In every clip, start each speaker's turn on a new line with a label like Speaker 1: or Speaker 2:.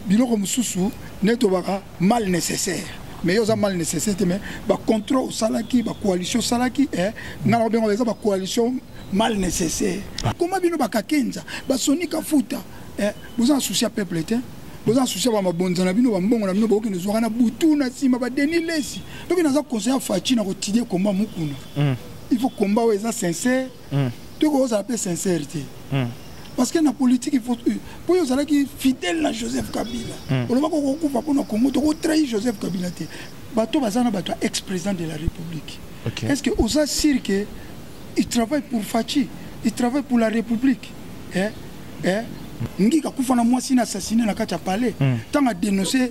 Speaker 1: biloko mosusu nde tobaka mal nécessaire mais yo oza mal nécessaire te mais bacontra osalaki bacoalition osalaki eh, ngai nakobenga eza bacoalition mal nécessaire koma bino bakakenza basoni kafuta eh, boza na souci ya peuple te boza na souci ya bamabonza na bino bambongo na bino bokende zwaka na butu na nsima badeni lesi ndoki naza conseil ya faci na kotidie komba mokuna mm. il faut komba oyo eza sincère mm. toki kozala mpe sincère te mm. parce que na politique il faut euh, mpo yo ozalaki fidèle na joseph kabila mm. olobaki okokufa mpo na congo tokotrahi joseph kabila te bato baza na bato ya ex président de la république okay. est ce que oza sire que il travaille pour faci il travaille pour la république eh? Eh? ngika kufa na mwasi na assassine na kati ya palais ntango mm. adénonce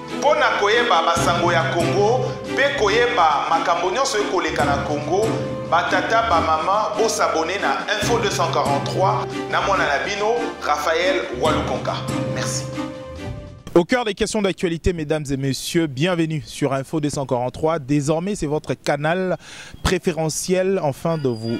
Speaker 2: Mpo na koyeba basango ya Congo pe koyeba makambo nionso ekoleka na Congo, ba tata ba maman bo s'abonner na info 243 na mwana na bino Raphaël Walukonka. Merci.
Speaker 3: Au cœur des questions d'actualité, mesdames et messieurs, bienvenue sur Info 243. Désormais, c'est votre canal préférentiel, enfin, de vous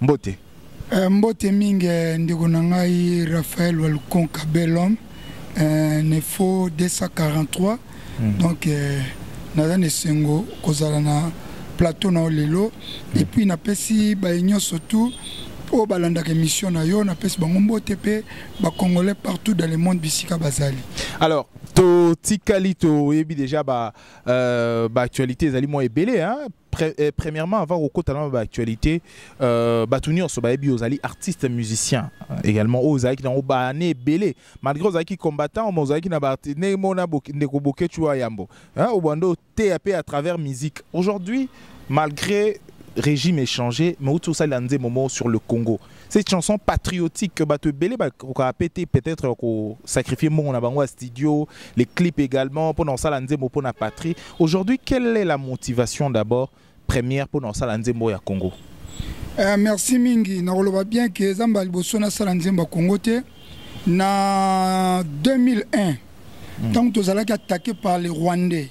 Speaker 3: mbote eh, mbote
Speaker 1: mingi eh, ndeko na ngai raphael walukonka belhomme eh, nefo 243 mm. donc eh, naza na esengo kozala na plateau na yo lelo mm. epuis napesi baye nyonso tout oyo balandaka émission na yo napesi bango mbote mpe bacongolais partout dans le monde bisika bazali alors
Speaker 3: totikali toyebi déjà baactualité ba euh, ezali mwa ebele Pre, eh, premièrement avant kokota na baactualité euh, bato nyonso bayebi ozali artiste musicien euh, également oyo ozalaki nango baane ebele malgré ozalaki combattant ma ozalaki na ndenge mona ndeko boketshu wa yambo obanda oteya mpe à travers musique aujourd'hui malgré régime échangé mais outi osalela nzembo moko sur le congo cette chanson patriotique que bato ebele bakokaka pe te peut-être kosacrifie mbongo na bango ya studio les clips également mpona kosala nzembo mpona patrie aujourd'hui quelle est la motivation d'abord première mpona kosala nzembo ya congo eh, merci
Speaker 1: mingi nakoloba bien ke eza mbala liboso nasala nzembo ya congo te na 2001 ntango mm. tozalaki attaqué par les rwandais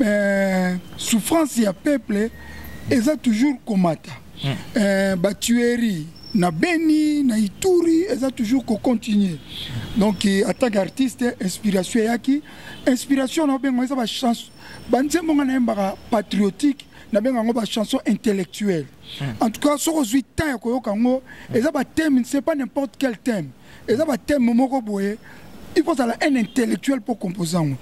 Speaker 1: euh, souffrance ya peuple eza toujours komata mm. euh, batuerie na beni na ituri eza toujours kocontinue donc eh, en tant qu'artiste inspiration eyaki inspiration na obenga eza bachance banzembo nga nayembaka patriotique nabenga yango bachanson intellectuelle mm. en tout cas soki ozwi temps ya koyoka yango eza bathème c'est pas n'importe quel thème eza ba thème moko boye il faut ozala un intellectuel mpo compose yango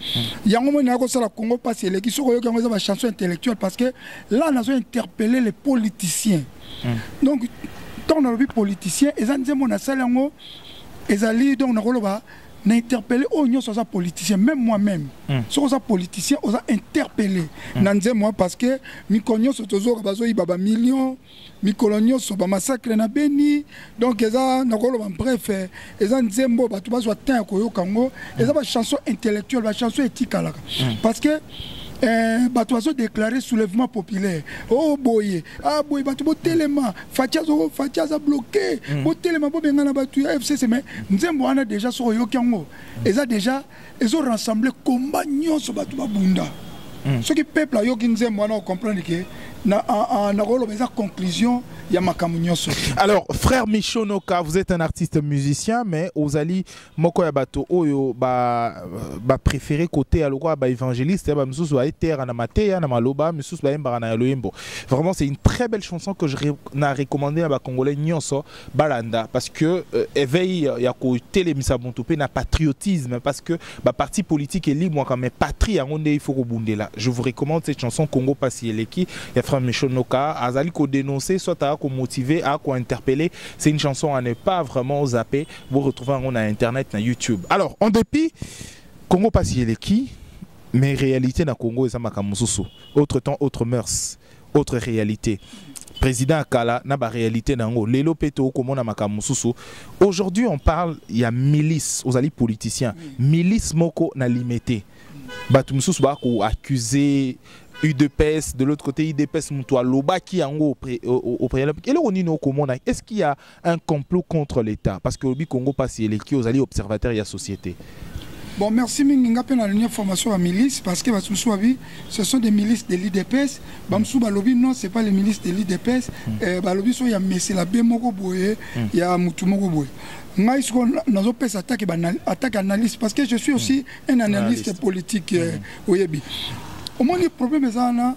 Speaker 1: yango moi naye kosala congo mpasi eleki soki oyoki yango eza bachanson intellectuelle parce que là nazo interpelle les politiciens mm. donc ntango nalobi politicien eza nzembo nasali yango ezali donc nakoloba na interpelle oyo nyonso aza politicien même moi-même mm. soki oza politicien oza interpelle mm. na nzembo parce que mikolo nyonso tozoyoka bazoyiba bamillion mikolo nyonso bamassacre na beni donc eza nakoloba bref eza nzembo bato bazwa temps ya koyoka yango eza bachanson intellectuelle bachanson etikalaka hmm. parce que eh, bato bazodeklare soulèvement populaire o oh, boye a ah, boye bato botelema faci azo faci aza bloke hmm. botelema bobengana bato ya fcc mais nzembo wana déjà soki oyoki yango eza déjà ezo rassembler combat nyonso bato babunda mm. soki peuple ayoki nzembo wana ocomprendre ke nakoloba eza conclusion ya makambo nyonso alors frère
Speaker 3: micho noka vous êtes un artiste musicien mais ozali moko ya bato oyo bapréféré ba kote ya lokola baévangéliste ya bamisusu baetera na mateya na maloba misusu bayembaka na ya loyembo vraiment c'est une très belle chanson que je na recommandé na bacongolais nyonso balanda parce que euh, éveil euh, ya kotelemisa moto mpe na patriotisme parce que baparti politique elimwaka mais patrie yango nde il faut kobundela je vous recommande cette chanson congo pasi eleki ya frère michel noka azali kodénoncer soit aya komotive aya kointerpelle c'est une chanson à ne pas vraiment zapper vous retrouvez yango na internet na youtube alors en dépit congo pasi eleki mais réalité na congo eza makambo mosusu autre temps autre mœurs autre réalité président ya kala na baréalité na yango lelo mpe tokomona makambo mosusu aujourd'hui on parle ya milice ozali politicien milice moko na limete bato mosusu bakoaccuse udps de l'autre côté udps moto alobaki yango au préalable eloko nini okomona est ce qu'il ya un complot contre l'État parce que obi Congo passe eleki ozali observateur ya société Bon, merci
Speaker 1: mingi nga pe na ligne formation à milice parce que basusu abi ce sont des milices de l'IDPS. Bamsu balobi non, c'est pas les milices de l'IDPS. Mm. Euh, balobi so ya messe la be moko boye, mm. ya mutu moko boye. Ngai siko nazo pesa attaque ba attaque analyste parce que je suis aussi mm. un analyste, analyste. politique euh, mm. oyebi. Omoni problème ezana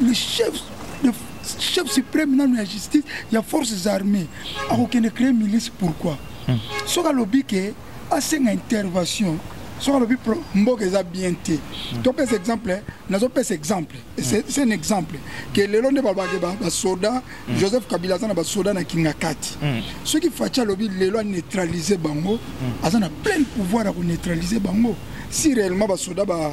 Speaker 1: le chef le chef suprême nanu ya justice ya forces armées akokende créer milice pourquoi hmm. soki alobi ke asenga intervention soki alobi mboka eza bien te hmm. topesa exemple eh, nazopesa exemple hmm. c'est un exemple ke lelo nde balobake basoda joseph kabila aza na basoda na kingakati soki faci alobi lelo aneutralise bango aza na pleine pouvoir ya koneutralise bango si réellement basoda ba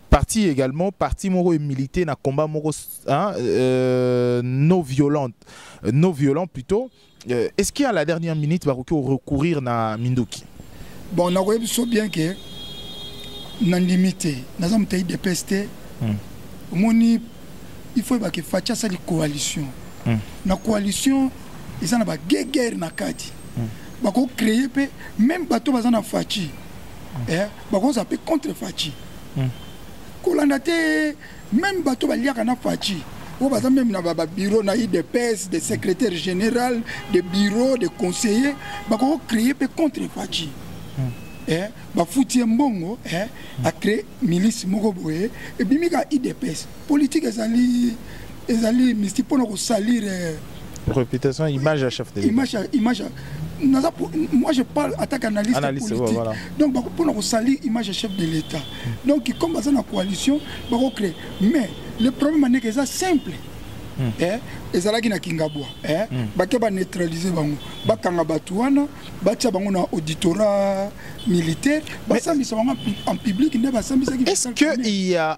Speaker 3: parti également parti moko milité na combat moko hein, euh, non violente euh, non violent plutôt euh, est-ce qu'il y a la dernière minute va recourir na Minduki bon on a vu
Speaker 1: biso bien que na ndimi te naza moto ya idps te hmm. omoni il faut ebake faci asali coalition hmm. na coalition eza na bagegere na kati hmm. bakocreye mpe meme bato baza na faci eh, bakonza mpe contre faci hmm. kolanda te meme bato baliaka na faci oyo baza meme na babiro na udps de secrétaire général de bureau de conseiller bakoki kocreye mpe contre faci hmm. eh, bafuti ye mbongo eh, hmm. acree milice moko boye ebimi ka udps politique ezali ezali mystique pona ko salir euh, réputation
Speaker 3: image ya chef de image image
Speaker 1: naza moi je parle attaque analyste, analyste politique voilà. donc bako pona ko salir image ya chef de l'état donc comme baza na coalition bako créer mais le problème aneke eza simple Hmm. Eh, ezalaki na kingabwa eh, hmm. bake baneutralize bango bakanga bato wana batya bango na auditorat militaire basambisa bango en public nde basambisaki est-ce que il y a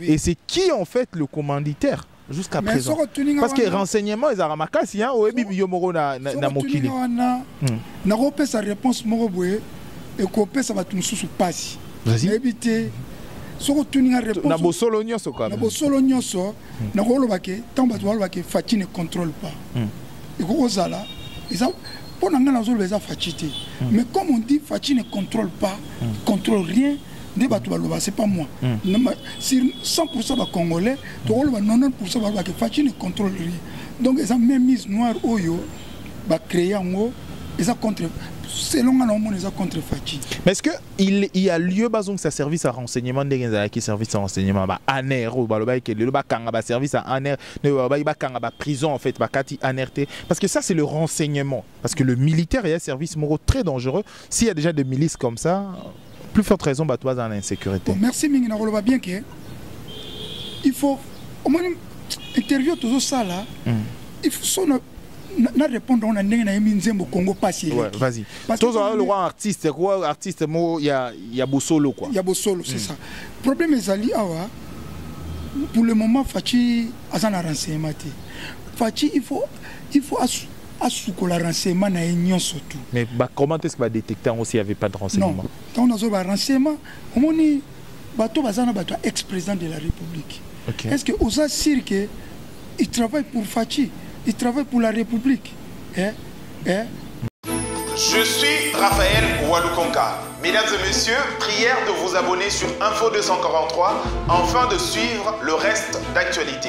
Speaker 3: oui. et
Speaker 1: c'est qui en
Speaker 3: fait le commanditaire jusqu'à présent parce que renseignement ezalaka makasi hein, oyebi yo moko na, na, na mokili wana hmm.
Speaker 1: nakopesa réponse moko boye ekopesa bato mosusu mpasi nayebi te soki otuni nga réponse na bosolo nyonso kaka
Speaker 3: na bosolo nyonso hmm.
Speaker 1: nakoloba ke ntango bato baloba ke faci ne contrôle pas hmm. ekoki kozala eza mpo na ngai nazoloba eza faci te mais comme on dit faci ne contrôle pas contrôle rien nde bato baloba c'est pas moi hmm. sur 100% bacongolais tokoloba 90% baloba ke faci ne contrôle rien donc eza même mise noire oyo bacréé yango eza contre selon nga na omona eza contre faci mais est ce que il,
Speaker 3: il y a lieu bazongisa service ya renseignement ndenge ezalaki service ya renseignement ba aner oyo balobaki ke lelo bakanga baservice ya aner nde balobaki bakanga baprison en fait bakati aner te parce que ça c'est le renseignement parce que le militaire eya service moko très dangereux s'il y a déjà des milices comme ça plus forte raison bato bazala na insécurité bon, merci mingi nakoloba
Speaker 1: bien ke il faut omoni interview tozosala mm. il faut so na, na, na répondre na ndenge nayemi nzembo congo pasi ouais, vas-y
Speaker 3: tozala lokwa artiste kwa artiste moko ya, ya bosolo kwa ya bosolo c'est mm.
Speaker 1: ça problème ezali awa pour le moment faci aza na renseignement te faci il faut il faut asukola renseignement na ye nyonso tout mais ba comment est-ce
Speaker 3: ba détecter yango s'il y avait pas de renseignement donc nazo ba
Speaker 1: renseignement omoni bato baza na bato ya ex président de la république okay. est-ce que oza sûr que il travaille pour Fatshi il travaille pour la république eh
Speaker 2: eh Je suis Raphaël Walukonka. Mesdames et messieurs, prière de vous abonner sur Info 243 afin de suivre le reste d'actualité.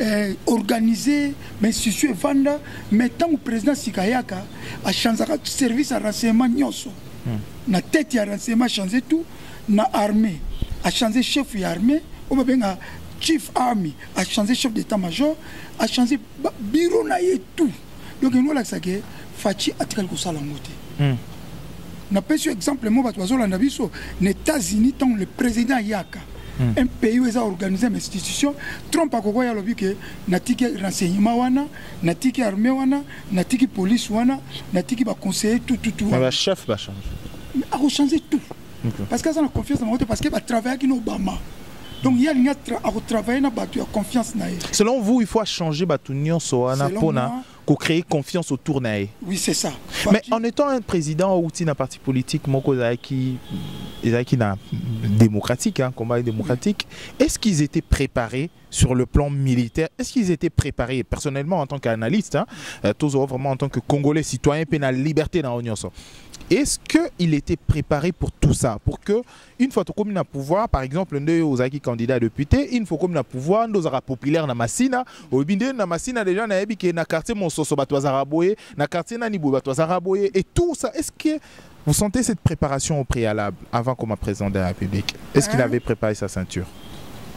Speaker 1: eh, organise bainstitution efanda mais ntango président sika ayaka achanzaka service ya renseignement nyonso hmm. na tete ya renseignement change tout na armée achange chef ya armée oyo babenga chief army achange chef d'état major achange biro na ye tout donc yango olakisa ke faci atikali kosala yango te hmm. napesi yo exemple mo bato bazolanda biso na états-unis ntango le président ayaka hmm. un pays oyo eza organise ma institution trump akoki oyo alobi ke natiki renseignement wana natiki armée wana natiki police wana natiki baconseiller tututuchef
Speaker 3: bachange akochange
Speaker 1: tout parce que aza na confiance na bango te parce que batravaillaki na obama donc ye alingi akotravaille na bato ya confiance na ye selon vous il faut
Speaker 3: achanger bato nyonso wana mpona kocréer confiance autour na ye oui c'est ça
Speaker 1: mais en étant un
Speaker 3: président outi na parti politique moko ezalaki ezalaki na démocratique hein, combat démocratique oui. est-ce qu'ils étaient préparés sur le plan militaire est-ce qu'ils étaient préparés personnellement en tant qu'analyste hein, euh, tozo vraiment en tant que congolais citoyen mpe na liberté na yo nyonso est-ce qu'il était préparé pour tout ça pour que une fois tokomi na pouvoir par exemple nde ozalaki candidat à député une fois okomi na pouvoir nde ozalaka populaire na masina oyebi nde na masina déjà nayebi ke na quartier mososo bato bazalaka boye na quartier nani boye bato bazalaka boye et tout ça est ce que vous sentez cette préparation au préalable avant comme président de la république est ce qu'il hein? avait préparé sa ceinture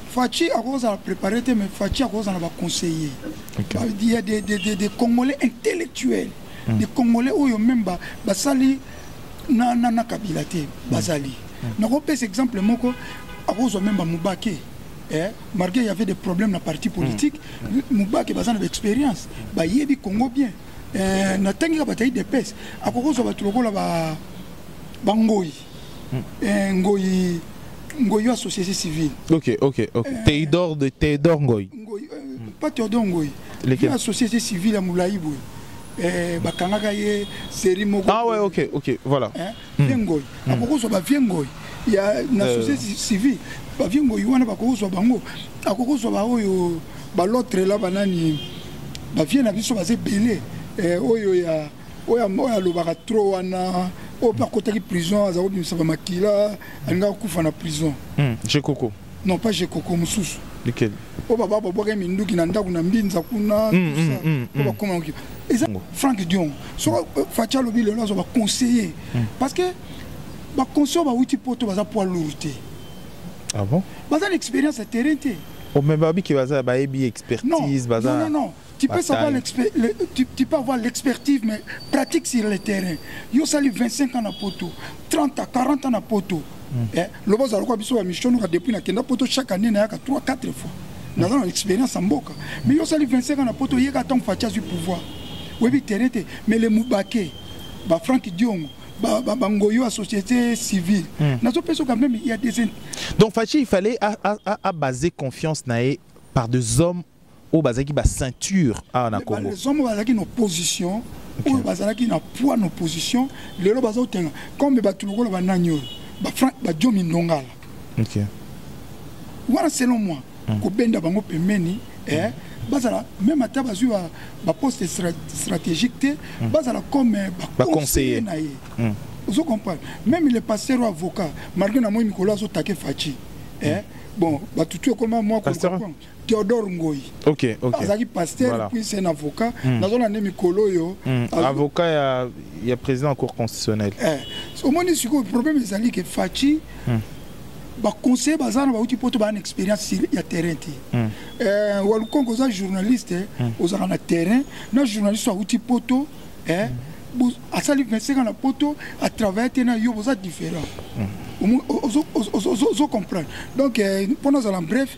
Speaker 3: Fatshi
Speaker 1: akozala préparé te mais Fatshi akozala na ba conseillers. Okay. Bah, il y a des, des, des, des Congolais intellectuels, mm. des Congolais oyo même ba basali na na na Kabila te hmm. bazali. Mm. Nakopesa exemple moko akozwa même ba Mubake. Eh, malgré il y avait des problèmes na parti politique, mm. Mubake baza na expérience, ba yebi Congo bien. Eh, na tangi ka batayi de pes, akokozwa ba lokola ba bangoyi eh, ngoyi ngoyi wa société civile ok ok ok eh,
Speaker 3: teidor de teidor ngoyi ngoyi eh, hmm. pas
Speaker 1: teidor ngoyi lequel la société civile ya mulayi boye eh, bakangaka ye série moko ah ouais ok ok
Speaker 3: voilà eh, hmm. vie ngoyi hmm.
Speaker 1: akokozwa ba vie ngoyi ya na euh. société civile ba vie ngoyi wana bakokozwa bango akokozwa baoyo balotre la banani bavie na biso baza ebele eh, oyo ya oyo oyo alobaka trop wana oyo mpe akotaki prison aza kobimisa bamakila alingaka kufa na prison hmm, jekoko
Speaker 3: non pas jekoko
Speaker 1: mosusu oyo
Speaker 3: baba babwaka
Speaker 1: minduki na ndako na mbinza kuna hmm, hmm, oyo bakoma eza frank dion soko euh, faci alobi lelo azwa baconseiller parce que baconseiller bawuti poto baza poids lourd te
Speaker 3: ah
Speaker 1: baza na
Speaker 3: expérience ya
Speaker 1: terrain te omeme oh,
Speaker 3: babiki baza bayebi expertise
Speaker 1: baza
Speaker 3: Tu
Speaker 1: peux, savoir le, tu, tu peux avoir l'expertise, mais pratique sur le terrain. Yo sali 25 ans à Poto, 30 à 40 ans à Poto. Mm. Eh, loba ozala kwa biso bamisio noka depuis nakenda poto chaque année nayaka 3 4 fois naza na expérience ya mboka mais yo osali 25 ans na poto oyeka ntango faci azwi pouvoir oyebi terrain te mais le mubake bafrank diongo bangoyo ya société civile mm. nazopesa quand même ya des donc faci il
Speaker 3: fallait abase confiance na ye par des hommes oyo bazalaki ba ceinture awa na Congo les hommes bazalaki na
Speaker 1: opposition oyo bazalaki na poids na opposition lelo bazotenga comme bato lokola banani oyo bajomi ndongala wana selon moi hmm. kobenda bango pembeni eh, bazala même ata bazwi baposte stratégique te hmm. bazala comme eh, baconseiller na ye hmm. ozo comprendre même le pasteur ou avocat malgré na moi mikolo azotake faci eh, bon batutu ekoma mwa Theodore Ngoyi. Ok, ok. Azaki
Speaker 3: pasteur
Speaker 1: voilà. puis c'est un avocat. Mm. Nazo na nemi kolo yo. Mm. Azo... Avocat ya
Speaker 3: ya président de la cour constitutionnelle. Eh. So moni
Speaker 1: siko problème ezali que Fatshi mm. ba conseiller baza na bauti poto ba na expérience sur ya terrain ti. Mm. Eh walukongo za journaliste eh, mm. ozaka na terrain na journaliste auti poto eh mm. asali 25 ans na poto à travailler te na yo boza différent. Mm. Ozo comprendre. Donc euh, pour nous en bref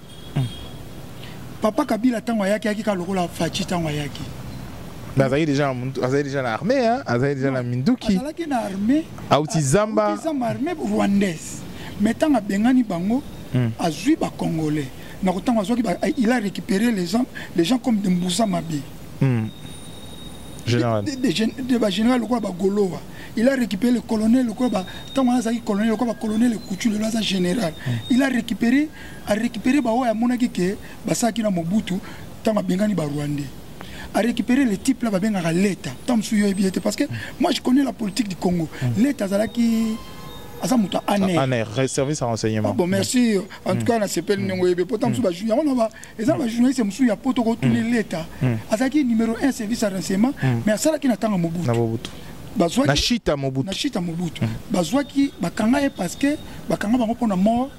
Speaker 1: papa kabila ntango ayaki ayaki kaka lokola faci ntango ayaki mais azalaki
Speaker 3: déjà azalaki déjà na armée hein azalaki déjà na minduki azalaki na armée
Speaker 1: auti zamba
Speaker 3: zamba armée
Speaker 1: rwandaise mais ntango abengani bango hmm. azwi bacongolais na kotango azwaki il a récupéré les gens les gens comme de mbuza mabe hmm.
Speaker 3: général de, de, de, de bagénéral
Speaker 1: lokola bagolowa il a récupéré le colonel lokola ntango wana azalaki colonel lokola bacolonel ekutu lelo aza général hmm. il a récupéré a récupérer ba oyo amonaki ke basalaki na Mobutu ntango abengani ba Rwandais a récupérer les types là babengaka leta ntango mosusu yo oyebi ye te parce que moi je connais la politique du Congo leta azalaki aza moto ya aner Aner, re- service à renseignement.
Speaker 3: Ah bon merci
Speaker 1: en tout cas nasepeli ndenge oyebi po ntango mosusu bajour yango na ba eza na bajournaliste mosusu ya poto kotuni leta azalaki numéro 1 service ya renseignement mais asalaki na ntango ya Na mobutu Mobutu. Na bazwaki chita
Speaker 3: Mobutu. na chita mobutu bazwaki
Speaker 1: bakanga ye parce que bakanga bango mpo na mort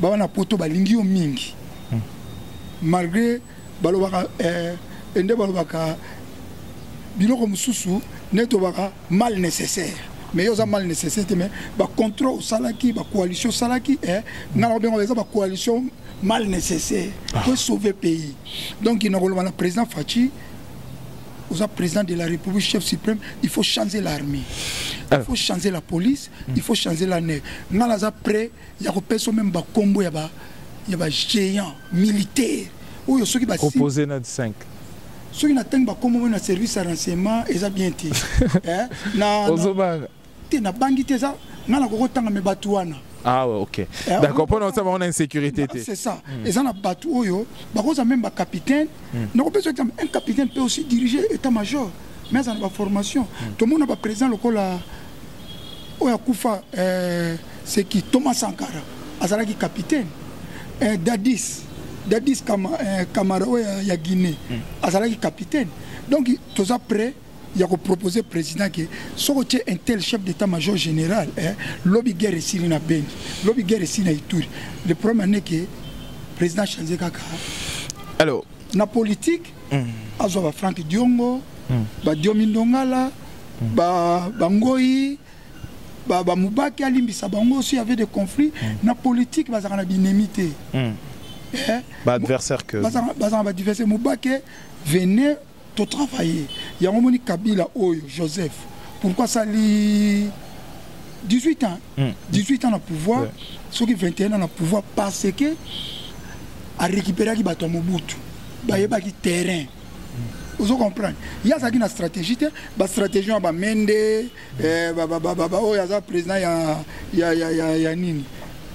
Speaker 1: bawa na poto balingi yo mingi malgré balobaka eh, ende balobaka biloko mosusu nde tobaka mal nécessaire mais yo oza mal nécessaire te mais bacontrôle osalaki bacoalition osalaki eh, nga na kobenga eza bacoalition mal nécessaire ah. po sauver pays donc nakoloba na président faci oza président de la république chef suprême il faut changer l'armée il faut changer la police il faut changer la nef nga naza prêt ya kopesa meme bakombo ya ba ya ba géant militaire oyo soki ba
Speaker 3: proposé na 5 soki na
Speaker 1: tangi bakombo meme na service ya renseignement eza bien te eh, na ozobanga te na bangi te eza
Speaker 3: nga na kokotanga me bato wana ah ouais, ok eh, d'accord mpo na osa bango na insécurité te c'est ça hmm. eza
Speaker 1: na bato oyo bakozwa meme bacapitaine hmm. nakopesa exemple un capitaine peut aussi diriger état major mais aza na baformation hmm. tomona baprésident lokola oyo akufa eh, c'est qui Thomas Sankara azalaki capitaine eh, Dadis Dadis Kama, eh, Kamara oyo ya, ya Guinée mm. azalaki capitaine donc toza prêt ya koproposer président ke soko tie un tel chef d'état major général eh, lobi guerre esili na beni lobi guerre esili na ituri le problème ane ke président change kaka alors
Speaker 3: na politique
Speaker 1: mm. azwa ba frank diongo mm. ba diomi ndongala mm. ba, ba ngoi ba mubaki alimbisa bango si avait des conflits mm. na politique bazaka na binemi te mm. eh,
Speaker 3: ba adversaire que bazaka bazaka ba adversaire
Speaker 1: mubaki venez to travailler yango moni kabila oyo joseph pourquoi sali 18 ans mm. 18 ans na pouvoir ouais. soki 21 ans na pouvoir parce que arécupéraki bato ya mobutu bayebaki terrain ozo comprendre ye azalaki na stratégie te bastratégie ya bamende eh, oyo aza président ya, ya, ya, ya, ya nini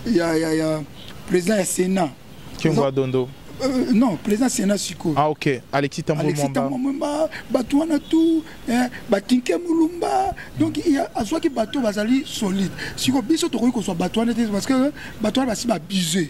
Speaker 1: ya, ya, ya président ya sénat kiongoa dondo
Speaker 3: Euh, non président
Speaker 1: sénat sikoyo ah, ok alexis
Speaker 3: tambomwamba
Speaker 1: bato wana tout eh, batinke mulumba donc azwaki bato bazali solide sikoyo biso tokoki kozwa bato wana te parce que bato wana basi babuse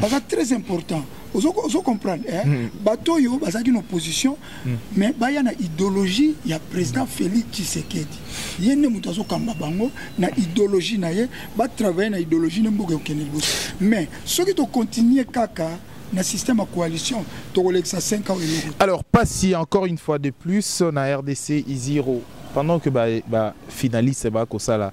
Speaker 1: baza très important ozo comprendre eh? mm. bato oyo bazalaki na opposition mm. mais baya na idéologie ya président félix tshisekedi ye nde moto azokamba bango na idéologie na ye batravaille na idéologie nde mboka ekokende liboso mais soki tokontinue kaka na système ya coalition tokolekisa 5 ans eloko alors pasi
Speaker 3: encore une fois de plus na rdc iziro pendant que ba, ba finaliste bakosala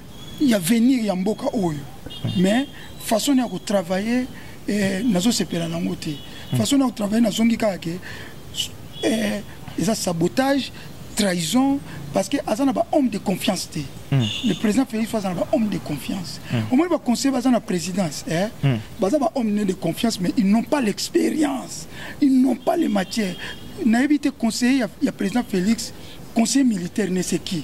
Speaker 1: ya venir ya mboka oyo mais façon ya kotravaille eh, nazosepela nango te hmm. façon ya kotravaille nazongi kaka ke eh, eza sabotage trahison parce que aza na bahomme de confiance te hmm. le président félix fo aza na bahomme de confiance hmm. omoni baconseiller baza na présidence eh? baza bahomme ne de confiance mais ils n'ont pas l'expérience ils n'ont pas les matières nayebi te conseiller ya, ya président félix conseiller militaire ne se qui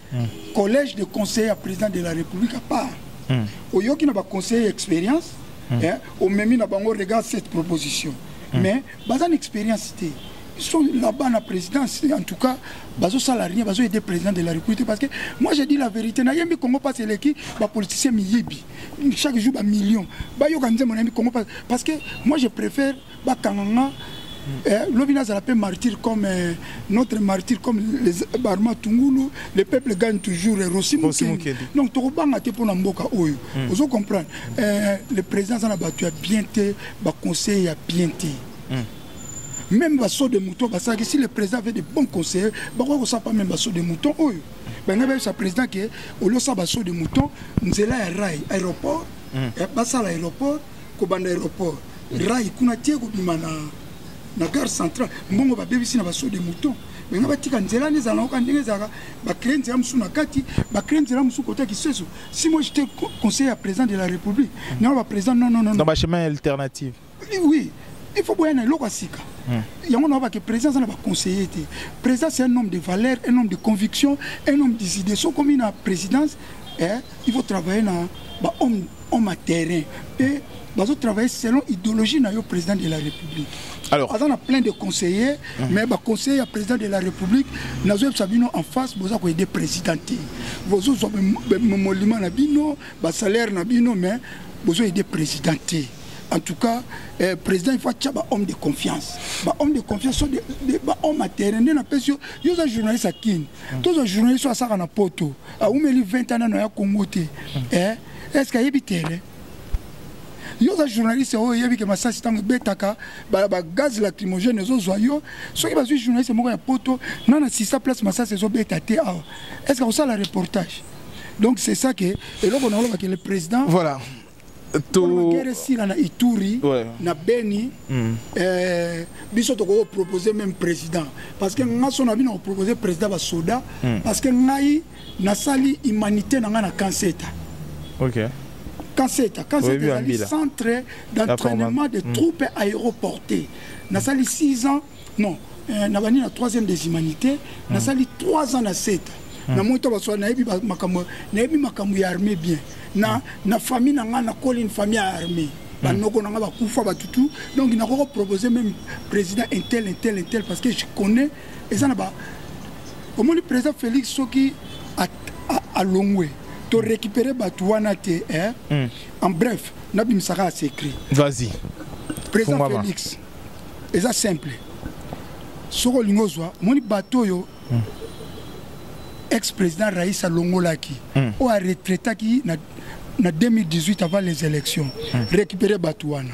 Speaker 1: mm. collège de conseiller ya président de la république à part mm. oyoki na baconseiller expérience mm. eh, omemi na bango regarde cette proposition mm. mais baza na expérience te biso là-bas na présidence en tout cas bazosala rien bazoyede président de la république parce que moi je dis la vérité nayembi congo mpasi eleki bapoliticien miyibi chaque jour bamillion bayoka nzembo nayembi congo mpasi parce que moi je préfère bakanga nga eh, lobi nazala mpe martyr comme eh, notre martyr comme les barma tungulu le peuple gagne toujours eh, rosi mokeli donc tokobanga te mpo na mboka oyo mm. ozo comprendre eh, le président aza na bato ya bien te baconseil ya bien te mm. même baso de mouton basalaki si le président avait de bon conseiller bakoki kosala pa même baso de mouton oyo bangai bayebisa président ke oliosa baso de mouton nzela ya rai aéroport mm. eh, basala aéroport kobanda aéroport rai kuna tie kobima na na gare centrale mbongo babebisi na baso de mouton benga batika nzela nde ezala nayoka ndenge ezalaka bacree nzela mosusu na kati bacree nzela mosusu kota kiseso si moi jete conseiller ya président de la république nao baprésident non non non dans bachemin alternative
Speaker 3: oui
Speaker 1: il faut boya na eloko ya sika hmm. yango na obake président aza na baconseiller te président c'est un homme de valeur un homme de conviction un homme des idées so okomi na présidence eh, il faut travailler na bahomme homme à terrain mpe bazo travailler selon idéologie na yo président de la république alors aza na plein de conseillers mm -hmm. mais baconseiller ya président de la république nazoyebisa bino en face boza koyede président te bozozwa molima na bino basalaire na bino mais bozoyede président te en tout cas eh, président il faut atya bahomme de confiance bahomme de confiance so bahomme atere nde napesi yo yo oza journaliste ya kini tozwa journaliste oyo asaka na poto aumeli 20 ans nano ya congo te eh, est ce que ayebi terrain yo oza journaliste oyo oyebi ke masasi ntango ebetaka bagaz lacrymogène ezozwa yo soki bazwi journaliste moko ya poto nga na sista place masasi ezobeta te awa est ce que akosala reportage donc c'est ça ke eloko nakolobake le président voilà
Speaker 3: togere
Speaker 1: esila na ituri ouais. na beni mm. eh, biso tokoki kopropose même président parce que nga so na bino kopropose président basoda mm. parce que ngai nasali humanité na ngai na kanseta okay. kanseta kanseta ezali centre d'entraînement de mm. troupes aéroportées nasali 6 ans non euh, nabandi na 3e des humanités mm. nasali 3 ans na seta mm. namoni to baswa nayebi makambo nayebi makambo ya armée bien na, mm. na famille na ngai nakoli une famille ya armée banoko na ngai bakufa batutu donc nakoki kopropose même président intel intel intel parce que je connais eza na ba omoni président félix soki alongwe to récupérer bato wana te eh? mm. en bref nabimisaka ase écrit vas-y président Fungama. félix eza simple soki olingi ozwa omoni bato oyo mm. ex président rais alongolaki mm. oyo aretraitaki na, na 2018 avant les élections mm. récupérer bato wana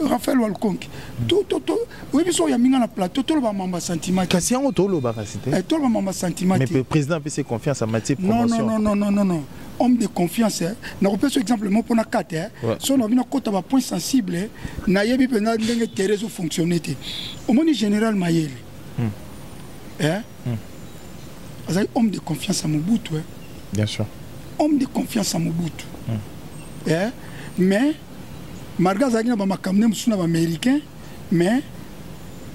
Speaker 1: Raphaël Walkonki to to to oui biso ya minga na plateau to ba mamba sentiment kasi yango to loba kasi te eh, to ba mamba
Speaker 3: sentiment mais le président a fait confiance à Mathieu promotion non non non non non
Speaker 1: homme de confiance hein. na kopesa so exemple moko mpona kate hein. ouais. so na bino kota ba point sensible hein. na yebi mpenza ndenge tere ezo fonctionne te omoni général mayele hmm. hein? hmm. azali homme de confiance à mobutu hein. bien sûr
Speaker 3: homme de confiance
Speaker 1: à mobutu hmm. hein? mais malgré azalaki na bamakambo nde mosusu na baaméricain mais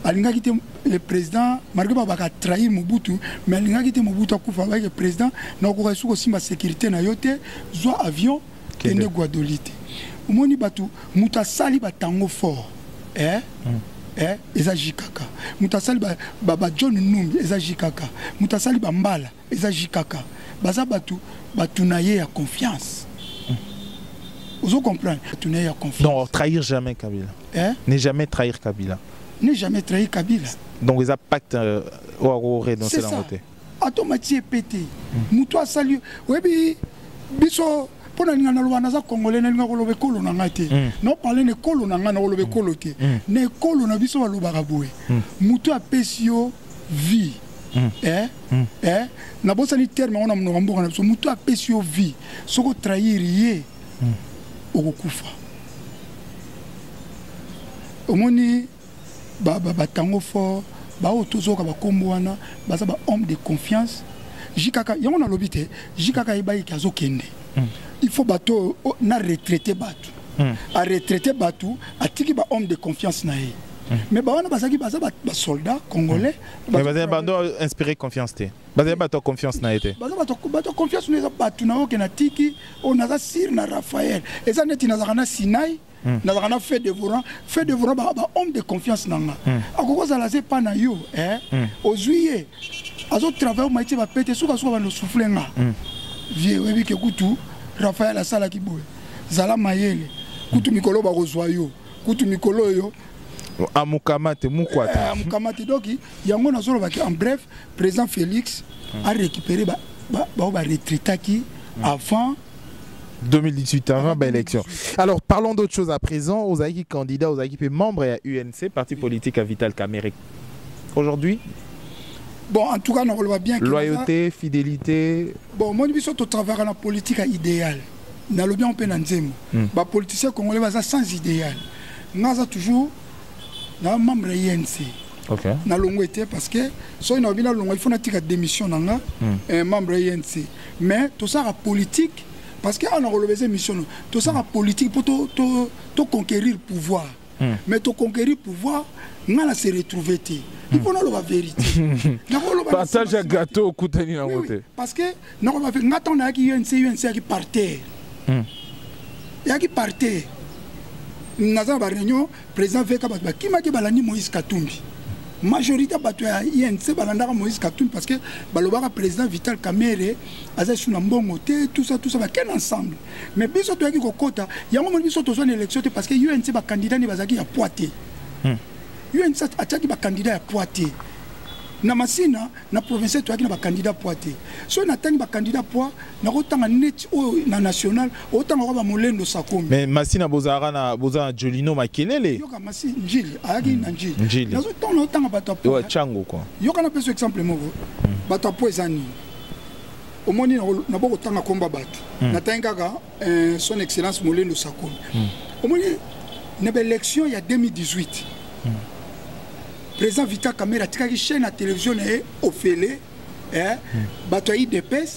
Speaker 1: alingaki te le président malgré babaka atrahir mobutu mais alingaki te mobutu akufa abaki président na okoka esu kosimba sécurité na yo te zwa avion kende guadoli te omoni bato moto asali batango fort eh? mm. eh? eza jikaka moto asali bajohn ba, ba numbi eza jikaka moto asali bambala eza JKK baza batu batu na ye ya confiance ozo comprendre batu na ye ya confiance non trahir jamais
Speaker 3: Kabila hein? ne jamais trahir Kabila ne jamais trahir
Speaker 1: Kabila donc eza pacte
Speaker 3: euh, oyo ako renoncer nango te
Speaker 1: atomati ye pete moto asali oyebi biso mpo nalinga naloba naza congolais nalinga koloba ekolo na ngai te mm. naopale na ekolo na ngai nakoloba mm. ekolo te mm. na ekolo na biso balobaka boye motu apesi yo vie eh? Eh? nabosani terme yango na monoko mboka na biso motu apesi yo vie soki otrahir ye okokufa omoni ba ba batango fort baoyo tozoyoka bakombo wana baza ba homme de confiance jikaka yango nalobi te jikaka ayebaki ke azokende hmm. il faut bato oyo oh, na retraite bato hmm. aretraite bato atiki ba homme de confiance na ye hmm. mais bawana bazalaki baza basoldat congolais bazali bando
Speaker 3: inspiré confiance te bazali bato ya confiance na ye te baza bato ya confiance
Speaker 1: na eza bato na oyo ke natiki oyo oh, naza sire na raphael eza neti nazalaka na sinai Hmm. nazalaka na fait devorant fait devorant bahomme de confiance na nga hmm. akoki kozala aza epa na yo eh? hmm. ozwi ye azotravaille omai tie bapete sukasuka bandosufle nga vie oyebi ke kutu rafael asalaki boye zala mayele kutu mikolo bakozwa yo kutu mikolo oyo amukamate
Speaker 3: mukwata eh, amukamate donc
Speaker 1: yango nazolobaki en bref président félix arécupéré baoyo baretraitaki avant 2018
Speaker 3: avant ba élection alors parlons d'autre chose à présent aux qui candidat aux qui membre à UNC parti politique à Vital Kamerhe aujourd'hui
Speaker 1: bon en tout cas on voit bien loyauté fidélité
Speaker 3: bon moi biso to
Speaker 1: travailler la politique à idéal na lobi on peut na nzembo hmm. ba politiciens congolais baza sans idéal ngaza toujours na membre ya UNC okay. na longo
Speaker 3: parce
Speaker 1: que soki na bino longo il faut na tika démission na nga hmm. eh, membre ya UNC mais tosaka politique parce que awa nakoloba eza émission no tosaka politique mpo toconquérir to, to pouvoir mm. mais toconquérir pouvoir ngai na se retrouve te il faut naloba vérité partage
Speaker 3: ya gâteau okutani yango te parce que nakoloba
Speaker 1: ngai ntango nayaki unc unc yaki par terre hmm. yaki par terre naza na baréunion Président VK bato bakimaki balandi Moïse Katumbi. Majorité ya bato ya INC balandaka Moïse Katumbi parce que balobaka président Vital Kamerhe aza lisusu na mbongo te tout ça tout ça bakende ensemble. Mais biso toyaki kokota yango moni biso tozwa na élection te parce que UNC ba candidat ni bazalaki ya poids te. Hmm. UNC atiaki ba candidat ya poids te. na masina na provincial toyaki na bakandida poids te soki natangi bakandida poids nakotanga neti oyo na national otanga kwa bamolendo sakomi mais masi na bozalaka
Speaker 3: na boza na jolino makelele yoka masi njili
Speaker 1: ayaki na njili njili nazotanga naotanga bato ya po chango kwa yoka
Speaker 3: na peso exemple
Speaker 1: moko hmm. bato ya po eza nini omoni nabo kotanga komba bato hmm. natangi kaka eh, son excellence molendo sakomi hmm. omoni na baélection ya 2018 président vita camera atikaki chaîne ya télévision na ye ofele eh, hmm. bato ya idps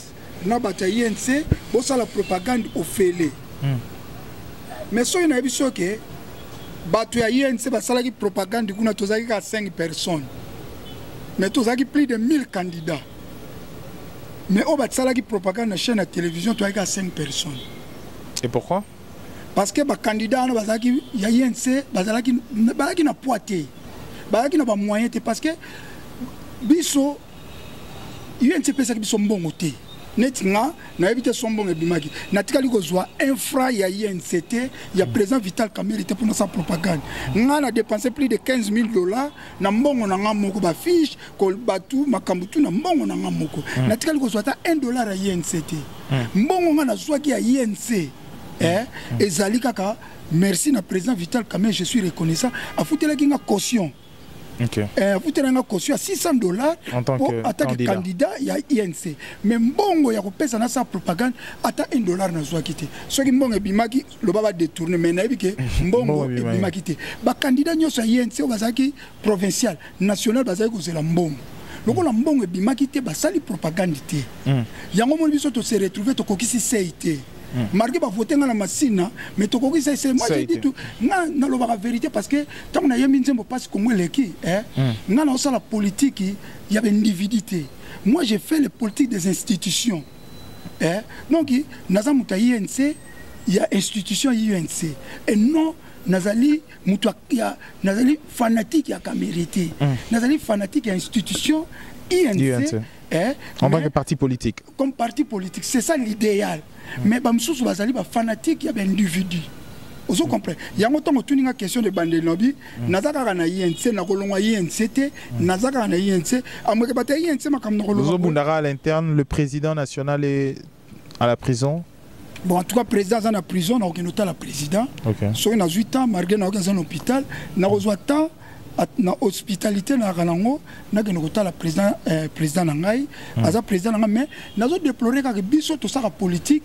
Speaker 1: na bato ya inc bosala propagande ofele hmm. mais soki nayebi soki bato ya inc basalaki propagande kuna tozalaki kaka 5 personnes mais tozalaki plus de 1000 candidats mais oyo basalaki propagande na chaîne ya télévision toyaki kaka 5 personnes et pourquoi
Speaker 3: parce que ba
Speaker 1: candidat wana bazalaki ya INC bazalaki bazalaki na poids te bazalaki na ba moyen te parce que biso UNC epesaki biso mbongo te neti nga nayebi te so mbongo ebimaki natikali kozwa infra ya inct ya président vital kamere te mpo nasala propagande nga na dépense plus de 15 000 dollars na mbongo na nga moko ba fiche ko batu makambo tu na mbongo na nga moko mm. na tikali kozwa ata 1 dollar ya INC te mm. mbongo nga nazwaki ya INC hmm. eh, mm. ezali kaka merci na président Vital Kamerhe je suis reconnaissant afutelaki nga caution okay. eh, afutelaki nga caution ya 600 dollars mpo atake
Speaker 3: candidat
Speaker 1: ya INC mais mbongo ya kopesa na sa propagande ata 1 dollar nazwaki te soki mbongo ebimaki loba ba détourner mais nayebi ke mbongo ebimaki te ba candidat nyonso ya INC oyo bazalaki provincial national bazali kozela mbongo lokola mbongo ebimaki te basali propagande te hmm. yango moni biso tose retrouve tokokisi sei te hmm. marke bavote ngai na masina mais tokokisa sei moi je dis tout nga nalobaka vérité parce que ntango nayembi nzembo mpasi kongo eleki eh, hmm. nga naosala politiki ya baindividu te moi je fais le politique des institutions eh? donc naza moto ya inc ya institution ya inc et non nazali moto ya nazali fanatique ya kamere te mm. nazali fanatique ya institution inc, INC. Eh, en tant
Speaker 3: que parti politique comme parti politique
Speaker 1: c'est ça l'idéal mm. mais bamosusu bazali bafanatique ya baindividu ozo comprendre yango ntango otuni nga question de bande lobi Mm. naza kaka na inc nakolongwa inc te mm. naza kaka na inc amoke bato ya inc makambo nakolongwaozobundaka à l'interne le
Speaker 3: président national est à la prison bon en tout cas
Speaker 1: président aza na prison nakokende otala président soki nazwi temps malgré nakoki aza na hôpital nakozwa temps na hospitalité nayaka nango nakende kotala président euh, président na ngai mm. aza président na ngai mais nazo déplore kaka biso tosaka politique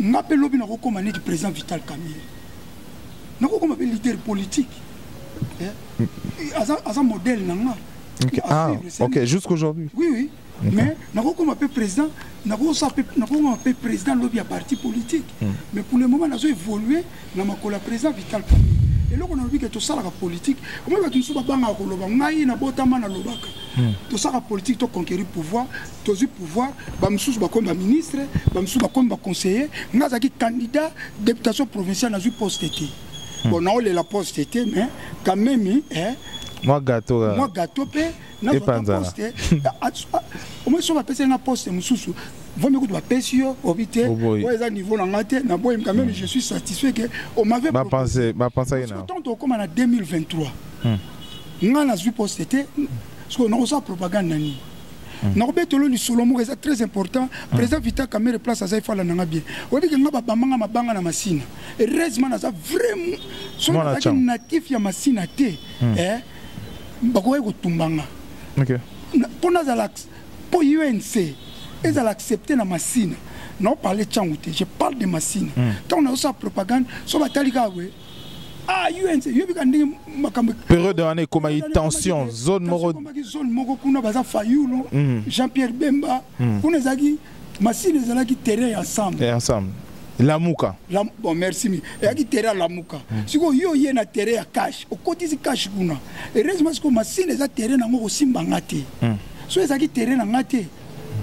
Speaker 1: nga mpe lobi nakokoma neti président vital camille nakokoma mpe leader politique eh? aza, aza modèle na nga okay. ah,
Speaker 3: okay. jusqu'aujourd'hui oui oui okay.
Speaker 1: mais nakokoma mpe président nakokoma mpe président lobi ya parti politique mm. mais pour le moment nazo évolue na makolo ya président vital camille eloko nalobi ke tosalaka politike omoi bato mosusu babangaka koloba ngai nabotama nalobaka hmm. tosalaka politike toconquérir pouvoir tozwi pouvoir bamosusu bakomi baministre bamosusu bakomi baconseiller ngai azalaki candidat députation provinciale nazwi poste te hmm. bon naolela poste te mais quand même eh, mwa
Speaker 3: gato euh, mwa gato mpe
Speaker 1: nazwaposte omoi so bapesi nga poste mosusu vomi kutu bapesi yo obi te oyo eza niveau na ngai te naboyi quand même hmm. je suis satisfait que omavait bapensaki
Speaker 3: na ntango tokokoma
Speaker 1: na 2023 ngai nazwi poste te sikoyo nakosala propagande na nini Mm. nakobetolo lisolo moko eza très important mm. président vita camere place aza ifala nanga bien oyebike nga babamanga mabanga na masina heureusement naza vraiment soki nazalaki natif ya masina te mm. eh, bakokaki kotumba nga
Speaker 3: mpo nazala
Speaker 1: mpo unc ezala accepte na masina naoparle ntango te je parle de masina ntango nazosala propagande so batali kaka boye ah UNC yobi ka ndenge makambo
Speaker 3: période wana ekomaki tension zone moko ekomaki zone moko kuna
Speaker 1: baza Fayulu mm. Jean Pierre Bemba mm. kuna ezalaki masini ezalaki terrain ensemble et ensemble
Speaker 3: lamuka la, bon merci
Speaker 1: mi eyaki tere ya lamuka mm. sikoyo yo oye na tere ya kashe okotisi kashe kuna heureusement sikoyo masini eza tere nango kosimba nga te mm. so ezalaki tere na nga te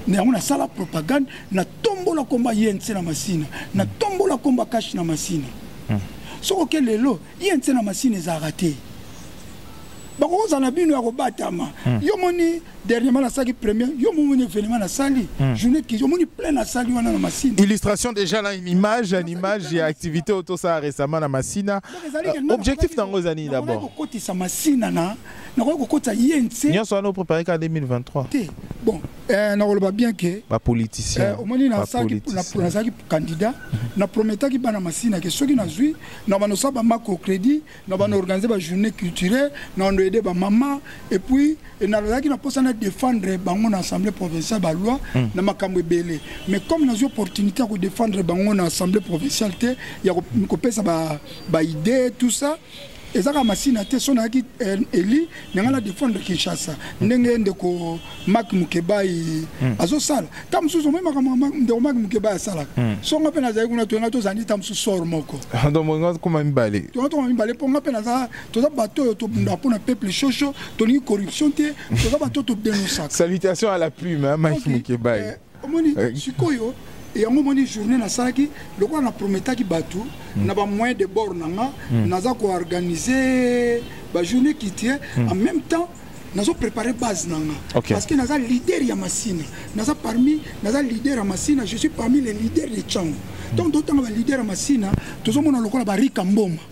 Speaker 1: na yango nasala propagande na tombola komba yense na masina na tombola komba kashi na masina hmm. soko ke lelo yense na masina ezalaka te bakokozala na bino ya kobatama hmm. yo moni dernièrement nasalaki premier yo momoni événement nasali hmm. journée ki omoni plein nasali wana na masina illustration déjà na une
Speaker 3: image une image ya activité oyo tosala récemment na masina euh, objectif nango eza nini d'abord kokotisa masina
Speaker 1: na nakoki kokotisa ye nse nyonso wana oprépare ka 2023
Speaker 3: te bon
Speaker 1: Eh, nakoloba bien ke bapoliticien eh,
Speaker 3: omoni
Speaker 1: nazalaki candidat na prometaki bana masina ke soki nazwi na bando osala bamako crédit na bando organise bajournée culturelle na bando aide bamama et puis eh, nazalaki na mposa na défendre bango na assemblée provinciale baloi hmm. na makambo ebele mais comme nazwi opportunité ya kodéfendre bango na assemblée provinciale te ya kopesa baidée tout ça eza kaka masina te so nayaki eh, eli na ngai na defendre kinshasa ndenge ndeko mak mukebai hmm. azosala ta mosusu omoi makambo ndeko mak mukebai asalaka hmm. so nga mpe nazali kuna toyena tozali ta mosusu sor moko tokoma
Speaker 3: mibale tona tokoma mibale mpo nga
Speaker 1: mpe naza toza bato oyo tobunda mpo na peuple shosho tolingi corruption te toza bato oyo todenosaka salutation à la
Speaker 3: plume mike mukebai eh, omoni eh.
Speaker 1: sikoyo yango omoni journée nasalaki lokola na prometaki bato mm. na bamoyen de bord na nga mm. naza koorganize bajournée culturelle mm. en même temps nazo préparer base na nga okay. parce que naza leader ya masina naza parmi naza leader ya masina je suis parmi les leaders de chango donc totanga baleader ya masina tozomona lokola barika mboma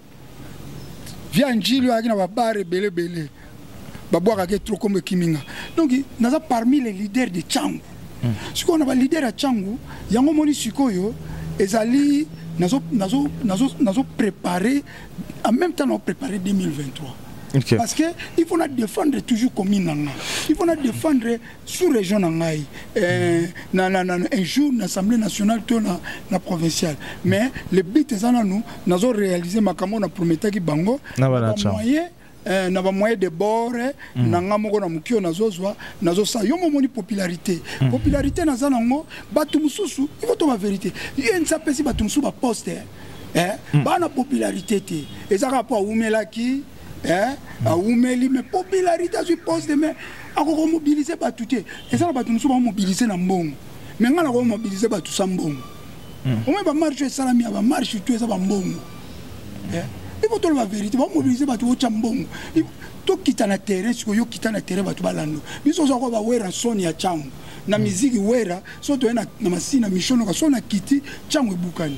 Speaker 1: via njili oyo ayaki na babare ebele ebele babwakaka etro kombo ekimi nga donc naza parmi les leaders de cangu hmm. sikoyo na baleader ya cangu yango omoni sikoyo ezali nazoprépare en même temps naoprépare 2023 Okay. Parce que il faut na défendre toujours commune nanga. Il faut na défendre sous région na ngai euh, na, na, na, un jour na assemblée nationale to na, na provinciale mais le but eza nanu nazo réaliser makambo na prometaki bango na bamoyen eh, na bamoyen de bord eh, mm. na nga moko na moki oyo nazozwa nazosala yo momoni popularité mm. popularité naza nango bato mosusu ifo to baverité ensi apesi bato mosusu baposte eh, eh, mm. bana popularité te eza kaka mpo awumelaki eh awumeli mais popularité azwi poste de mais akoki komobilize bato te eza na bato mosusu bamobilize na mbongo mais ngai nakoki komobilize bato sa mbongo hmm. omoi bamarche oyo esalami ya bamarche to eza bambongo eh, ipo toloba verité bamobilize bato otya mbongo tokita na terrain sikoyo okita na terrain bato balando biso oza koba wera soni ya cango na hmm. miziki wera so toye na masina mishonoka so na kiti cango ebukani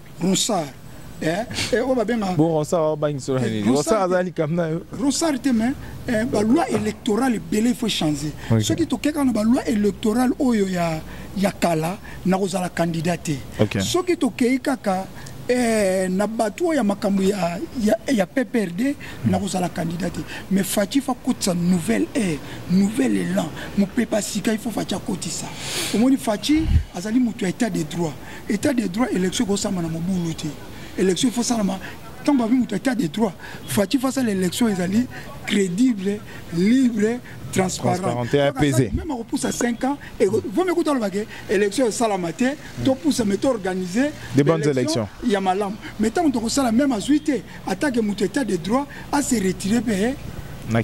Speaker 1: ronsard eh, eh, oyo
Speaker 3: babenga bon ronsard abangisa na nini ronsard aza likambo na yo ronsard
Speaker 1: te mais eh, baloi électorale ebele il faut changer okay. soki tokeka na baloi électorale oyo ya, ya kala nakozala candidat te okay. soki tokei kaka eh, na bato oyo ya makambo ya, ya, ya pprd mm. nakozala kandida te mais faci fakotisa nouvelle air nouvelle élan mopepa sika ifo faci akotisa omoni faci azali moto ya état de droit etat de droit élection ekosamba na mobulu te élection ifo salama ntango babi moto etat de droit faci face à l'élection ezali crédible libre transparentmeme
Speaker 3: akopusa 5 ans
Speaker 1: vomi kuta aloba ke élection esalama te topusa me toorganiser élection
Speaker 3: ya malamu me
Speaker 1: ntango tokosala meme azwi te atake moto etat de droit ase retire mpe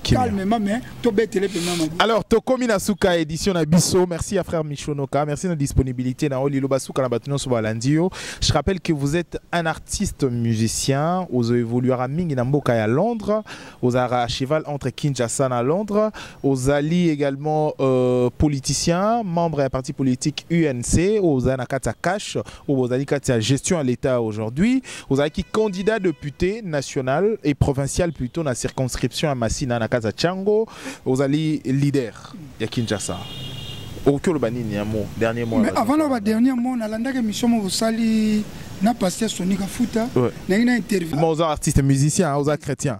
Speaker 1: calmement mais tobetele mpenza maboko alors tokomi na
Speaker 3: suka ya édition na biso merci ya frère michonoka merci na disponibilité na yo liloba suka na bato nyonso balandi yo je rappelle que vous êtes un artiste musicien ozo évoluera mingi na mboka ya londres ozalaka cheval entre kinshasa na londres ozali également euh, politicien membre ya parti politique unc oyo ozali na kati ya cash oyo bozali kati ya gestion ya l'état aujourd'hui ozalaki candidat député national et provincial plutôt na circonscription ya masina na kaza chango ozali leader ya kinshasa okoki oloba nini ya mo dernier mot mais avant loba dernier mot
Speaker 1: nalandaki émission mo bosali na pasteur soni kafuta nangi na interview oza artiste musicien
Speaker 3: oza chrétien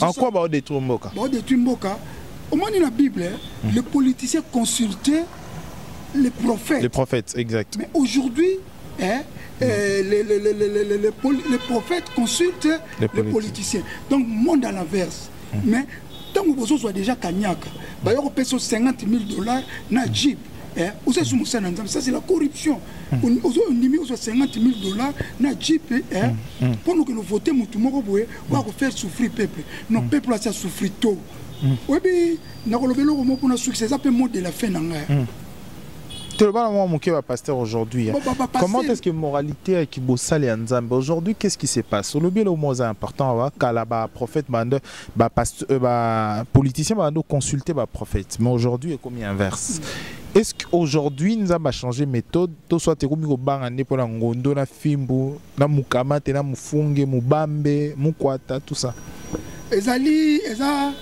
Speaker 1: en quoi bao
Speaker 3: détruire mboka bao détruire mboka
Speaker 1: omoni na bible hein, mm. les politiciens consultaient les prophètes les prophètes exact
Speaker 3: mais aujourd'hui
Speaker 1: hein, euh, les, les, les, les, les, les prophètes consultent les, les politiciens donc monde à l'inverse mm. mais ntango bozozwa déjà kanyaka bayo kopesa 50 000 dollars na jeep eh, oza esu mosala na nzambe ça c'est la corruption hmm. ozo ondimi ozwa 50 000 dollars na jeep eh, hmm, hmm. mpo nokende vote motu moko boye ba ko faire souffrir peuple non mm. peuple asa souffrir to mm. oyebi nakoloba eloko moko mpona succès eza mpe mot de la fin na ngai mm. toloba na mwa moke
Speaker 3: bapasteur aujourd'hui comment est ce que moralité ya kibosali ya nzambe aujourd'hui qu'est ce qui se passe olobi eloko moko eza important awa kala baprophète bande bapoliticien babande oconsulte baprophète mais aujourd'hui ekomi inverse mm. est-ce qu'aujourd'hui nzambe achange méthode to soit ekomi kobanga nde mpo na ngondo na fimbu na mukamate na mufunge mubambe mukwata tout ça ezali
Speaker 1: eza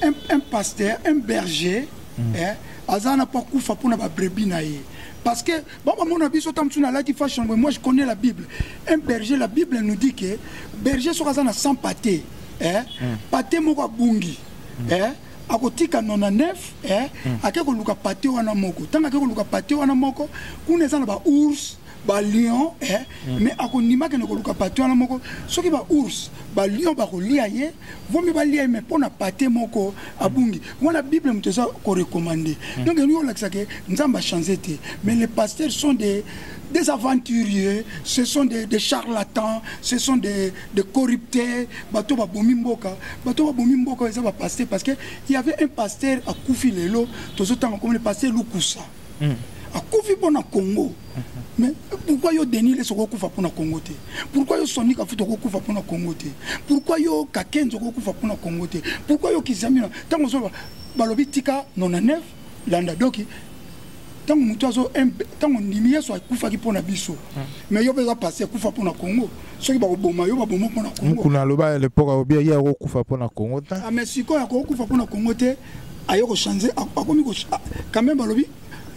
Speaker 1: un, un pasteur un berger mm. eh, aza na mpo akufa mpo na babrebi na ye parce que bamamona biso ta mosusu nalaki fashion moi je connais la bible un berger la bible nous dit que berger soki aza na 100 pate eh, mm. pate moko abungi mm. eh, akotika 99 eh, mm. ake koluka pate wana moko ntango ake koluka pate wana moko kuna eza na baours ba lion eh, mm. mais akondima kende koluka pate wana moko soki ba ours ba lion bakolia ye vomi balia ye mais mpo na pate moko abungi wana bible moto eza korecommande mm. donc elingi kolakisa ke nzambe achange te mais les pasteurs sont des des aventuriers, ce sont des, des charlatans, ce sont des, des corruptés, bateau ba bomi mboka, bateau ba bomi mboka, ils ont passé parce que il y avait un pasteur à Koufi Lelo, tous autant comme le pasteur Lukusa. mm. akufi mpo na congo mais pourquoi yo denis lesi okokufa mpo na congo te pourquoi yo soni kafuta okokufa mpo na congo te pourquoi yo kakenzi okokufa mpo na congo te pourquoi yo kizamina ntango ozoloba balobi tika 99 landa doki ntango motu azo ntango ndimi yesu akufaki mpo na biso hmm. mais yo mpe eza pasi akufa mpo na congo soki bakoboma yo baboma mpo na congomokuna aloba ya lepoka
Speaker 3: obia ye akokufa mpo na congo te ah, mais sikoyo akokufa
Speaker 1: mpo na congo te aye ko changer akomi ko quand même balobi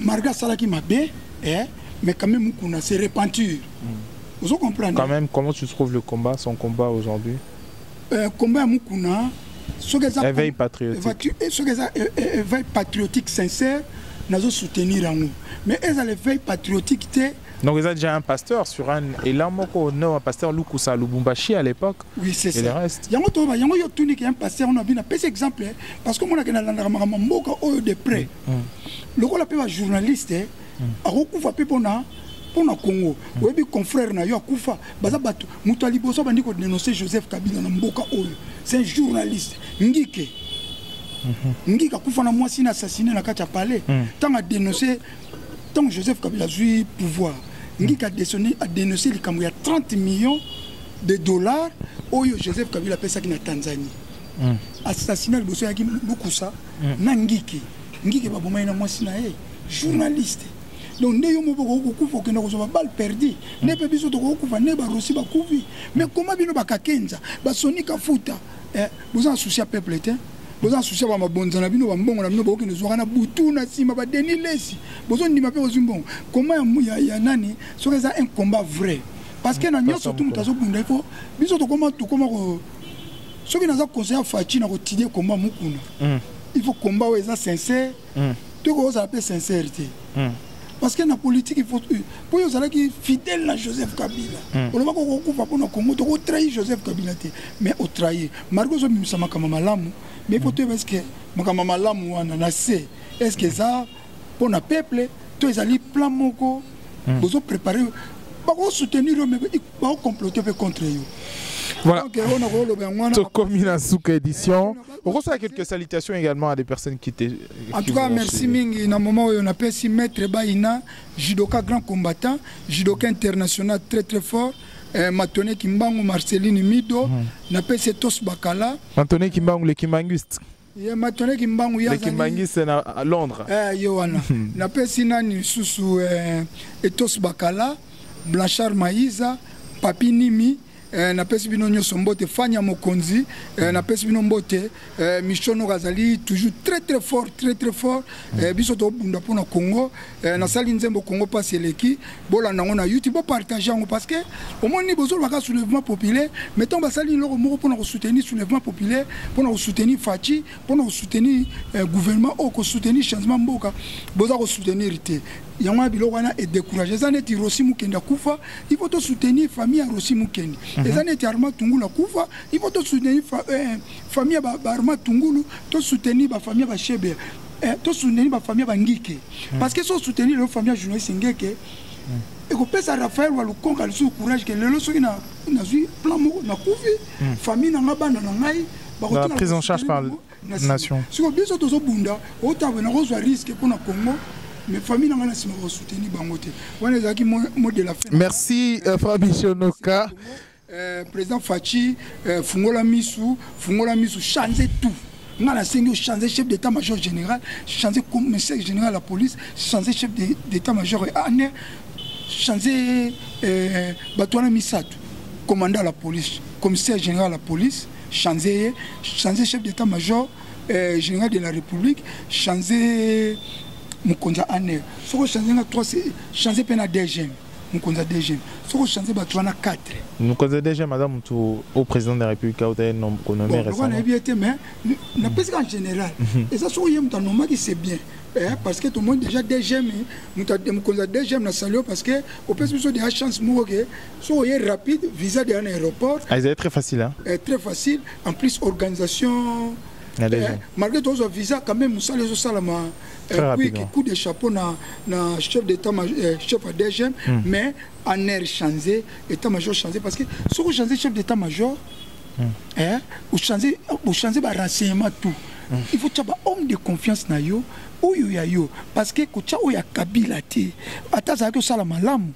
Speaker 1: marga asalaki mabe eh, mais quand même mukuna se repentir mm. ozo comprendre quand même comment tu trouves
Speaker 3: le combat son combat aujourd'hui euh,
Speaker 1: combat ya mukuna soki eza éveil
Speaker 3: patriotique eh, soki eza eh, eh,
Speaker 1: éveil patriotique sincère nazo soutenir yango mais eza l'éveil patriotique te Donc ils ont déjà
Speaker 3: un pasteur sur un et là moko non un pasteur Lukusa Lubumbashi à l'époque. Oui c'est ça. Et le reste.
Speaker 1: Yango to ba yango
Speaker 3: yo tuni
Speaker 1: un pasteur on a bien pèse exemple hein. parce que moi na landa makambo mboka oyo de près. Mm, mm. Lokola pe ba journaliste hein, mm. akokufa pe pona pona Congo. Oyebi confrère na yo akufa baza bato moto ya liboso bandi ko dénoncer Joseph Kabila na mboka oyo. C'est un journaliste ngike. Mm-hmm. Ngika kufa na mwasi na assassiné na kati ya palais. Tant à dénoncer ntango joseph kabila azwi pouvoir ngika adenonse likambo ya 30 millions de dollars oyo joseph kabila apesaki na tanzanie mm. assassinat liboso ayaki lukusa mm. na ngiki ngiki babomai na mwasi na ye journaliste donc nde yo moko okoki kokufa okenda kozwa babale perdi nde mpe biso tokoki kokufa nde barosi bakufi mais koma bino bakakenza basonika futa eh, boza na souci ya peuple te boza souci ba mabonza na bino bambongo na bino bokende zwaka na butu na nsima badeni lesi bozondima mpe bozwi mbongo koma ya, ya nani soki eza un combat vrai parce que na nyonso tu moto azobunda ifo biso tokoma tokoma ko soki naza conseil ya faci na kotidie combat mokuna mm. il faut combat oyo eza sincère mm. tokoki kozala mpe sincère te mm. parce que na politique il faut euh, po yo ozalaki fidèle na joseph kabila hmm. olobaki okokufa mpo na congo toko trahi joseph kabila te mais otrahi margo ozobimisa makambo malamu mais po toyeba eske makambo malamu wana na se eske eza mpo na peuple to ezali plan moko hmm. bozo prépare bakosoutenir yo me bakocomplote mpe contre yo
Speaker 3: voilà tokomi na suka édition okosola quelques salutations également à des personnes qui te en tout cas merci
Speaker 1: mingi na moment oyo napesi maître baina judoka grand combattant judoka international très très fort eh, matone kimbangu marceline mido mm. napesi tous bakala matone kimbangu le
Speaker 3: kimbanguiste ye matone
Speaker 1: kimbangu ye kimbanguiste na
Speaker 3: londres eh, ye wana hmm.
Speaker 1: napesi nani lisusu eh, etos bakala blanchard maiza papi nimi Eh, napesi bino nyonso mbote fani ya mokonzi eh, napesi bino mbote eh, michonoko azali toujours très très fort très très fort eh, biso tobunda mpo na congo eh, nasali nzembo congo mpasi eleki bolanda yango na youtube bopartage yango parce que omoni bozolobaka soulèvement populaire mais ntango basali eloko moko mpo na kosoutenir soulèvement populaire mpo na kosoutenir faci mpo na kosoutenir eh, gouvernement oyo kosoutenir changement mboka boza kosoutenir te yango ya biloko wana edecourage eza neti rosi mokende akufa ipo tosoutenir famille ya rosi mokende mhm. eza neti arma tungulu akufa ipo tosoutenir eh, famille ya baarma tungulu tosoutenir bafamille ya bashebea eh, tosoutenir bafamille ya bangike mhm. parce que so soutenir lelo famille ya journaliste ngeke mhm. ekopesa raphael wa lukonga lisusu courage ke lelo soki nazwi plan moko nakufi famille na ngai bana na ngai prise en
Speaker 3: charge par nation siko biso tozobunda
Speaker 1: otabwe nakozwa riske mpo na congo mais famille na ngai na nsima bakosoutenir bango te wana ezalaki mo de la fin merci
Speaker 3: euh, fabisionoka euh, président
Speaker 1: faci euh, fungola misu fungola misu change tout ngai nasengi ochange chef d'état major général change commissaire général ya police change chef d'état major ya ane change bato wana misato commandant ya la police commissaire général ya la police Chanze ye, chanze chef d'etat major euh, général de la république, chanze mokonzi ya aner soki ochange nga 3 change mpe na dgm mokonzi ya dgm soki ochange bato wana 4 mokonzi ya dgm
Speaker 3: aza motu au président de la république auta ye konome récemment nayebi ye te mais
Speaker 1: napesi ka en général mhm. eza soki ye moto anomaki c'est bien Eh, parce que tomoni déjà dgm mokonzi ya dgm na salio parce que opesi biso deja chance moko ke soki oye rapide visa deya na aéroport ah, ezali très facile hein?
Speaker 3: eh, très facile en
Speaker 1: plus organisation eh, malgré tozwa visa quand même mosala ezosalama eh, coup de chapeau na, na chef d'état eh, chef ya dgm mm. mais en air change état major change parce que soki ochange chef d'état major mm. eh, ochange ochange barenseignement tout mm. il faut tya bahomme de confiance na yo oyo ya yo parce que kotya oyo ya kabila te ata azalaki osala malamu